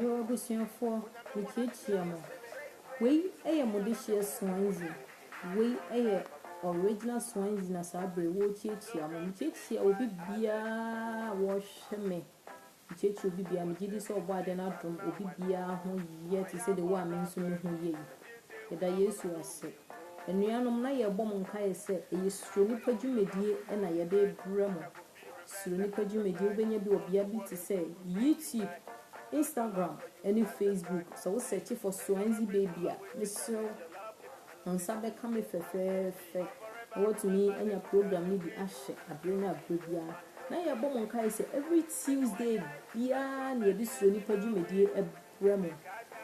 Yoo abusuafoɔ mekyiakyia mo. Wei yɛ mo dehyeɛ Swansea. Wei yɛ original Swansea na saa berɛ yi wɔrekyiakyia mo. Mekyiakyia obi biara a wɔrehwɛ me. Mekyiakyia obi biara. Megye di sɛ ɔbɔ adeɛ no adom obi biara ho yɛ te sɛ deɛ wo a me nso me ho yɛ yi. Yɛda Yesu ase. Anuanom na yɛrebɔ mo nkaeɛ sɛ ɛyɛ Suro Nipa dwumadie na yɛde rebrɛ mo. Suro nnipa dwumadie. Wobɛnya bi wɔ bea bi te sɛ YouTube, Instagram ne Facebook. Sɛ wo search for Swansea Baby a, mesrɛ wo, wo nsa bɛka me fɛfɛɛfɛ na woatumi anya program no bi ahyɛ aberɛ ne aberɛ biara. Na yɛbɔ mo nkaeɛ sɛ every Tuesday biara na yɛde Suro nnipa dwumadie Wɔ me.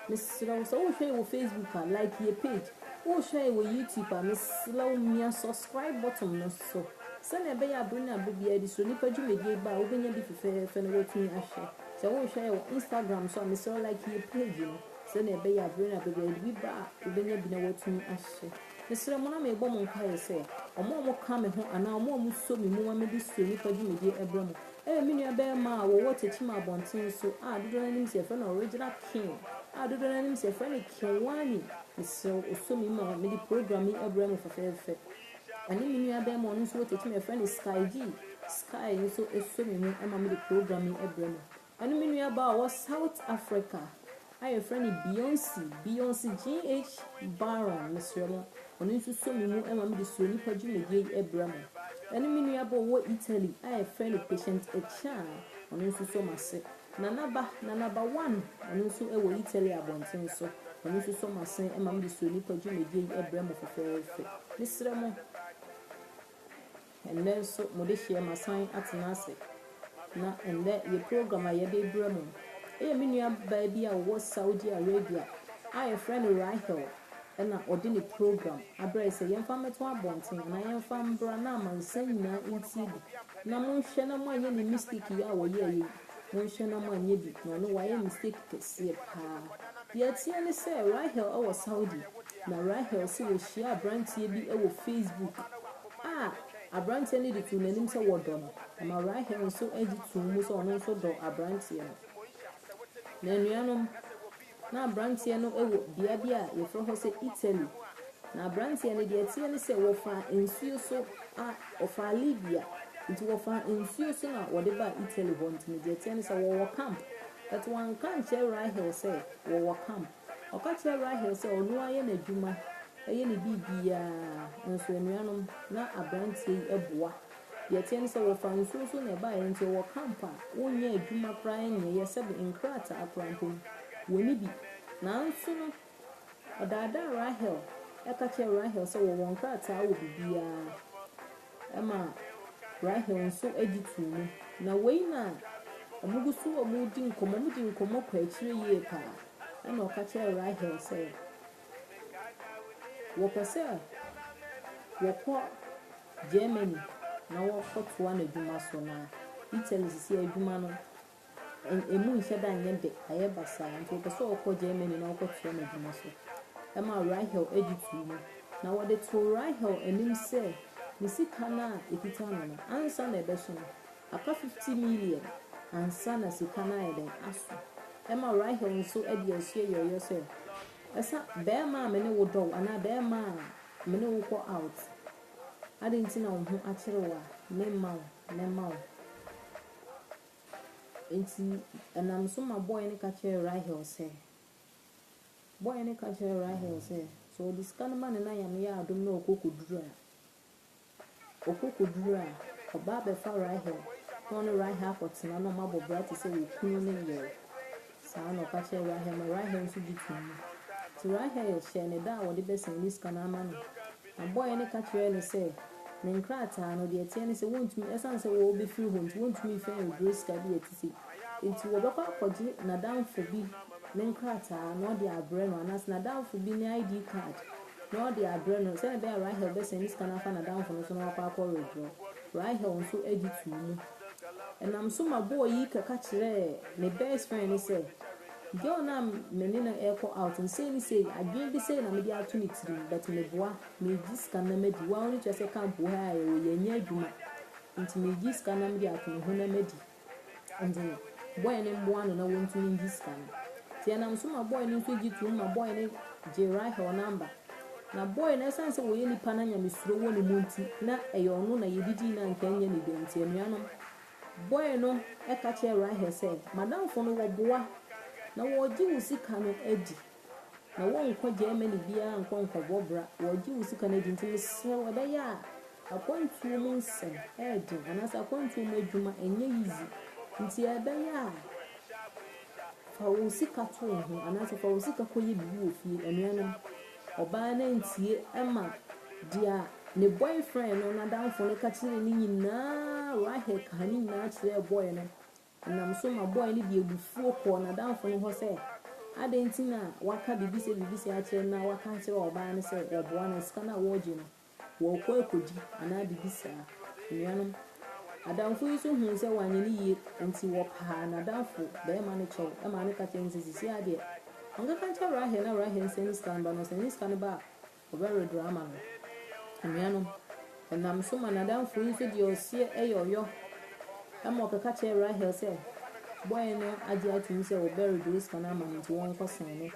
Mesrɛ wo sɛ wohwɛ yɛ wɔ Facebook a like yɛ page, wohwɛ yɛ wɔ YouTube a mesrɛ wo mia subscribe button no so sɛnea ɛbɛyɛ a bere ne abere biara de Suro Nipa dwumadie yi ba a wobɛnya bi fefɛɛfɛ na woatumi ahwɛ. Sɛ wohwɛ yɛ wɔ Instagram nso a mesrɛ wo like yɛ page no sɛnea ɛbɛyɛ a bere ne abere biara yɛde bi ba a wobɛnya bi na woatumi ahwɛ. Mesrɛ mo na mebɔ mo nkwaaeɛ sɛ wɔn a wɔka me ho anaa wɔn a wɔsɔ me mu ma mede Suro Nipa dwumadie brɛ mo Ɛyɛ me nuabarima a wɔwɔ Tekyima Abɔnten so a dodoɔ no ara nim sɛ yɛfrɛ no Original King a dodoɔ no ara nim sɛ yɛfrɛ no Kiwani. Mesrɛ wo, ɔsɔ me mu a, mede program yi abrɛ mo fɛfɛɛfɛ. Ɛne me nuabarima a ɔno nso wɔ Tekyima a yɛfrɛ no Sky G. Sky nso sɔ me mu ma mede program yi brɛ mo. Ɛne me nuabaa a ɔwɔ South Africa. a yɛfrɛ no Beyonce, Beyonce GH Baron, mesrɛ mo, ɔno nso sɔ me mu ma mede Suro Nnipa dwumadie yi brɛ mo, ɛne me nua bɔ ɔwɔ Italy a yɛfrɛ no Patient Achan, ɔno nso sɔ m'ase. Nana Ba, Nana Ba One, ɔno nso wɔ Italy abɔnten so, ɔno nso sɔ m'ase ma mede Suro Nnipa dwumadie yi brɛ mo fɛfɛɛfɛ. Mesrɛ mo. Ɛnnɛ nso mo dehyeɛ masan atena ase na ɛnnɛ yɛ program a yɛde rebrɛ mo yɛ me nua baa bi a ɔwɔ Saudi Arabia a yɛfrɛ no Rahel na ɔde ne program abrɛ yɛ sɛ yɛmfa mmɛto abɔnten anaa yɛmfa mbra na amansan nyinaa ntie bi na monhwɛ na moanyɛ ne mistake yi a ɔyɛɛyɛ yi monhwɛ na moanyɛ bi na ɔno wayɛ mistake kɛseɛ paa. Deɛ ɛteɛ ne sɛ Rahel wɔ Saudi na Rahel nso ɔhyiaa aberanteɛ bi wɔ Facebook. a aberanteɛ no de too n'anim sɛ wɔdɔ no, ɛma Rahel nso gye too mu sɛ ɔno nso dɔ aberanteɛ no. Na anuanom, na aberanteɛ no wɔ bea bi a wɔfrɛ hɔ sɛ Italy. Na aberanteɛ no, deɛ ɛteɛ ne sɛ wɔfaa nsuo so a, ɔfaa Libya, nti wɔfaa nsuo so na wɔde baa Italy hɔ. Nti no, deɛ ɛteɛ ne sɛ wɔwɔ camp. But wɔanka ankyerɛ Rahel sɛ wɔwɔ camp. Ɔka kyerɛɛ Rahel sɛ ɔno ara yɛ n'adwuma, yɛ ne biribiara. Nanso anuanom, na aberanteɛ yi boa. Deɛ ɛteɛ ne sɛ, wɔfaa nsuo nso na ɛbaeɛ. Enti ɔwɔ camp a, wonyɛ adwuma koraa nyɛeɛ, sɛbe nkrataa koraa mpo no, wɔnni bi. Nanso no, ɔdaadaa Rahel ka kyerɛɛ Rahel sɛ wɔwɔ nkrataa wɔ biribiara. ma Rahel nso gye too mu. Na wei na wɔgu so redi nkɔmmɔ, wɔdi nkɔmmɔ kɔ akyire yie paa. Ɛnna ɔka kyerɛɛ Rahel sɛ, wɔpɛ sɛ wɔkɔ Germany na wɔkɔtoa n'adwuma so, na Italy seesei adwuma no Emu nhyɛ da nyɛ dɛ, ayɛ basaa, nti wɔpɛ sɛ wɔkɔ Germany na wɔkɔtoa n'adwuma so. Ɛmaa Rahel gye too mu, na wɔde too Rahel anim sɛ ne sika no a ɛkita no no, ansa na ɛbɛso no, aka fifti miliɛn ansa na sika no ayɛ dɛn? Aso. Ɛma Rahel nso de ansuo yɔɔyɔ sɛ, Ɛsa, barima a me ne wo dɔ wo anaa barima a me ne wo kɔ out, adɛn nti na wo ho akyere wo a, memma wo, mɛma wo. Enti ɛnam so ma bɔe no ka kyerɛɛ Rahel sɛ, Bɔe no ka kyerɛɛ Rahel sɛ, sɛ ɔde sika no ma ne na Yame yɛ adom na ɔkɔ kɔduru a, ɔkɔ kɔduru a, ɔba abɛfa Rahel na ɔne Rahel akɔtena na wɔabɔ bra te sɛ yɛn kunu ne yere. Saa na ɔka kyerɛɛ Rahel ma Rahel nso gye toom. Enti Rahel hyɛɛ no da a wɔde bɛsɛn ne sika no ama no. Na bɔe no ka kyerɛɛ no sɛ, Ne nkrataa no, deɛ ɛteɛ ne sɛ, wɔntumi, ɛsiane sɛ wɔrebɛfiri hɔ nti, wɔntumi mfa nnwira sika bi a ɛte sei. Enti wɔbɛkɔ akɔgye n'adamfo bi ne nkrataa na ɔde abrɛ no, anaasɛ n'adamfo bi ne ID card na ɔde abrɛ no, sɛdeɛ ɛbɛyɛ a Rahel bɛsɛn ne sika no afa n'adamfo no so na wakɔ akɔweredwerɛ. Rahel nso gye too mu. Ɛnam so ma bɔɔ yi kɔka kyerɛɛ me best friend no sɛ girl no a me ne no rekɔ out no sei ne sei, adwene bi sei na mede ato ne tirim but meboa, megye sika no na madi, wo ara w'ani tua sɛ camp wɔ ha a yɛwɔ yɛnyɛ adwuma nti megye sika no na mede ato ne ho na madi nti no boy no mmoa no na wɔntumi ngye sika no. Nti ɛnam so ma boy no nso gye toom ma boy no gyee Rahel number. Na boy no ɛsiane sɛ ɔyɛ nipa na nyamesuro wɔ ne mu nti na ɛyɛ ɔno na yɛdidii no anka ɛnyɛ ne dea nti anuanom boy no ka kyerɛɛ Rahel sɛ madamfo no wɔboa na wɔregye wo sika no adi na wɔrenkɔ Germany biara nkɔ nkɔbɔ bra wɔregye wo sika no adi nti mesrɛ wo ɛbɛyɛ a akwantuo mu nsɛm ɛyɛ den anaasɛ akwantuo mu adwuma ɛnyɛ yiyi nti ɛbɛyɛ a Fa wo sika to wo ho anaasɛ fa wo sika kɔyɛ biribi wɔ fie. Anuanom, ɔbaa no antie ɛma deɛ ne boyfriend no n'adamfo no ka kyerɛɛ no nyinaa, Rahel kaa ne nyinaa kyerɛɛ boy no. Ɛnam so ma boy no de abufuo kɔɔ n'adamfo no hɔ sɛ, adɛn nti na waka biribi sɛ biribi sɛ akyerɛ no na waka akyerɛ ɔbaa no sɛ wɔboa no, sika no a wɔregye no. Wɔrekɔ akodi anaa biribi saa. Anuanom, adamfo yi nso hui sɛ wanyɛ no yie nti wɔpaa n'adamfo barima no kyɛw maa no ka kyerɛɛ no sɛ seesei ara deɛ ɔnkɛka nkyerɛ Rahel na Rahel nsan ne sika no ba na ɔsan ne sika no ba a ɔbɛwedorɔ ama no. Anuanom, ɛnam so ma n'adamfo yi nso deɛ ɔseɛ yɛ ɔyɔ ma ɔkɛka kyerɛɛ Rahel sɛ boy no agye atom sɛ ɔbɛwedorɔ sika no ama no nti wɔnkɔsan no.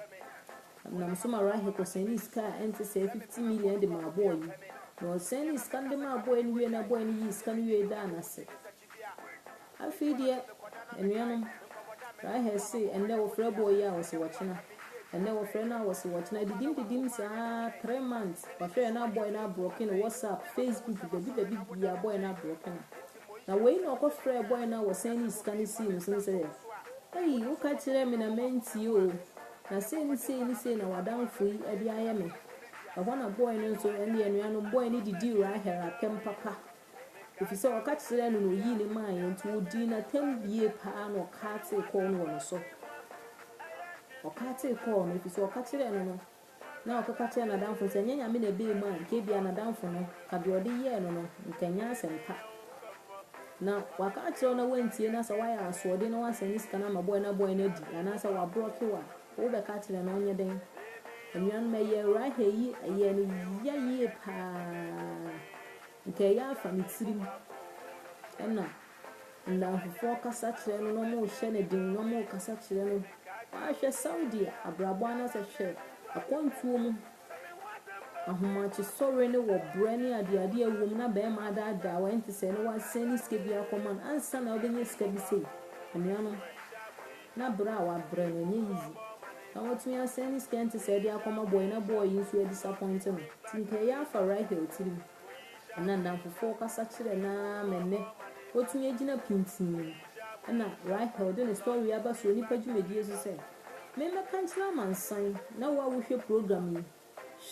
Ɔnam so ma Rahekɔ sɛnee sika a ɛnte sɛɛ fifti miliɛn de maa bɔɔ yi, na ɔsɛnee sika no de maa bɔɛ no wiee na bɔɛ no yii sika no wiee daa no ase. Afei deɛ, anuanom, Rahel se ɛnnɛ wɔfrɛ bɔɔ yi a wɔse wɔkyena, ɛnnɛ wɔfrɛ no a wɔse wɔkyena, adidim didim saa ara, three months, wahwɛɛ na bɔɛ no abrɔke no, WhatsApp, Facebook, dabi dabi biaa bɔɛ no abrɔke no. Na wei na ɔkɔ frɛɛ bɔe no a wɔsan de sika no sii no so no sɛ, Ei, woka kyerɛɛ me na mantie oo, na sei ne sei ne sei na w'adamfo yi de ayɛ me. Ɛhɔ na bɔe no nso, ɛnde anuanom bɔe no de dii Rahel atɛm papa, efisɛ ɔka kyerɛɛ no na oyii no maeɛ, enti wɔdii no atɛm bie paa na ɔkaatee kɔɔ no wɔ ne so. Ɔkaatee kɔɔ no, efisɛ ɔka kyerɛɛ no no. Na ɔkeka kyerɛɛ n'adamfo no sɛ, Ɛnyɛ Nyame na ɛbɛɛ mu a, nka ebia n'adamfo no ka deɛ ɔde yɛɛ no no, nka ɛnyɛ asɛm pa. Na waka akyerɛ wo na woantie no a, sɛ woayɛ asoɔden na woasan ne sika no ama bɔe na bɔe no adi, anaasɛ wabrɔke wo a, wobɛka akyerɛ no ɔnyɛ dɛn? Anuanom, ɛyɛɛ Rahel yi, ɛyɛɛ no ya yie pa ara. Nka ɛyɛ afa ne tirim na. Nnamfofoɔ kasa kyerɛ no na wɔrehyɛ no den na wɔrekasa kyerɛ no. Woahwɛ Saudi abrabɔ anaasɛ hwɛ akwantuo mu ahomakyesɔre no wɔ brɛ ne adeadeɛ wom na bɛrima adaadaa wo ɛnte sɛ na wasɛn ne sika bi akɔma no ansa na wobɛnya sika bi sei. Anuanom, na brɛ a wabrɛ no ɛnyɛ easy. Na watumi asɛn ne sika ɛnte sɛ de akɔma bɔɔyi na bɔɔyi nso adisapɔinte no. Nti nka ɛyɛ afa Rahel tirim. Ɛna nnamfofoɔ kasa kyerɛ no ara ma ɛnnɛ watumi agyina pintinn. Ɛna Rahel de ne story aba so wɔ nnipa dwumadie so sɛ, Memmɛka nkyerɛ amansan na wo a wohwɛ program yi,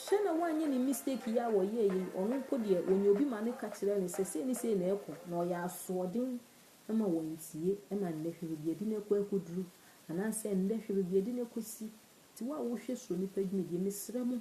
hwɛ na woanyɛ ne mistake yi a wɔyɛɛ yi, ɔno mpo deɛ ɔnya obi ma no ka kyerɛ no sɛ sei ne sei na ɛrekɔ na ɔyɛ asoɔden ma wantie. Ɛna nnɛ hwɛ baabi yɛde no akɔ akɔduru anaasɛ nnɛ hwɛ baabi yɛde no akɔsi. Nti wo a wohwɛ Suro Nnipa dwumadie, mesrɛ mo,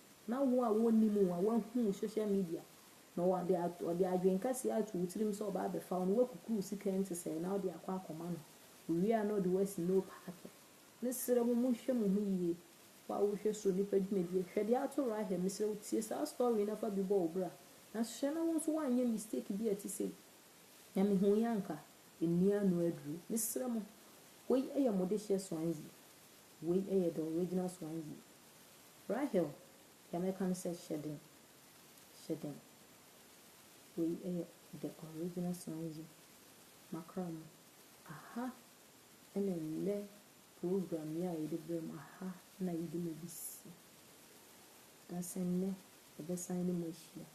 Na wo a wonnim wo a woahu wo social media na ɔde ɔde adwene kɛseɛ ato wo tirim sɛ ɔba abɛfa wo no woakukuru wo sika ntesɛɛ na wode akɔ akɔma no owie a na ɔde wo asi no paake mesrɛ mo monhwɛ mo ho yie wo a wohwɛ so nipa dwumadie hwɛ deɛ ato Rahel mesrɛ wo tie saa story yi na fa bi bɔ wo bra na hwɛ na wo nso woanyɛ mistake bi a ɛte sei na mehuuiɛ anka ɛnni ano aduro mesrɛ mo wei yɛ mo dehyeɛ Swansea wei yɛ the original Swansea. Rahel, deɛ mɛka ne sɛ hyɛ den, hyɛ den. Wei yɛ the original song yi makra mu. Aha na nnɛ program yi a yɛde brɛ mo, aha na yɛde mo besi. Na sɛ nnɛ yɛbɛsan ne mo ahyia.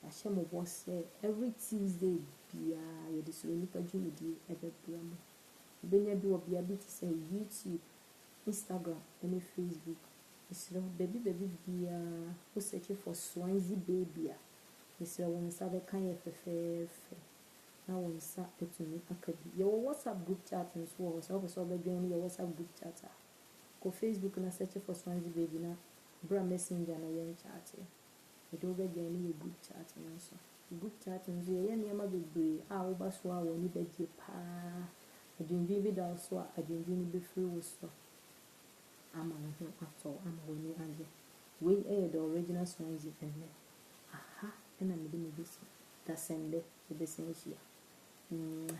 Yɛahyɛ mo bɔ sɛ every Tuesday biara yɛde Suro Nipa dwumadie bɛbrɛ mo. Wobɛnya bi wɔ bea bi te sɛ YouTube, Instagram ne Facebook mesrɛ wo baabi baabi biaa wo search for Swansea baby a mesrɛ wo nsa bɛka yɛ fɛfɛɛfɛ na wo nsa atumi aka bi. Yɛwɔ WhatsApp group chat nso wɔ hɔ sɛ wopɛ sɛ wobɛ join yɛ WhatsApp group chat a kɔ Facebook na search for Swansea baby na bra messenger na yɛn chat mede wo bɛ join yɛ group chat no nso. Group chat no nso yɛyɛ nneɛma bebree a woba so a w'ani bɛgye paa Adwendwen bi da wo so a, adwendwen no bɛfiri wo so ama wo ho atɔ wo, ama w'ani agye. Wei yɛ The Original Swansea ɛnnɛ. Aha na mede me bɛsi dasɛm de bɛsan ahyia. Mwah.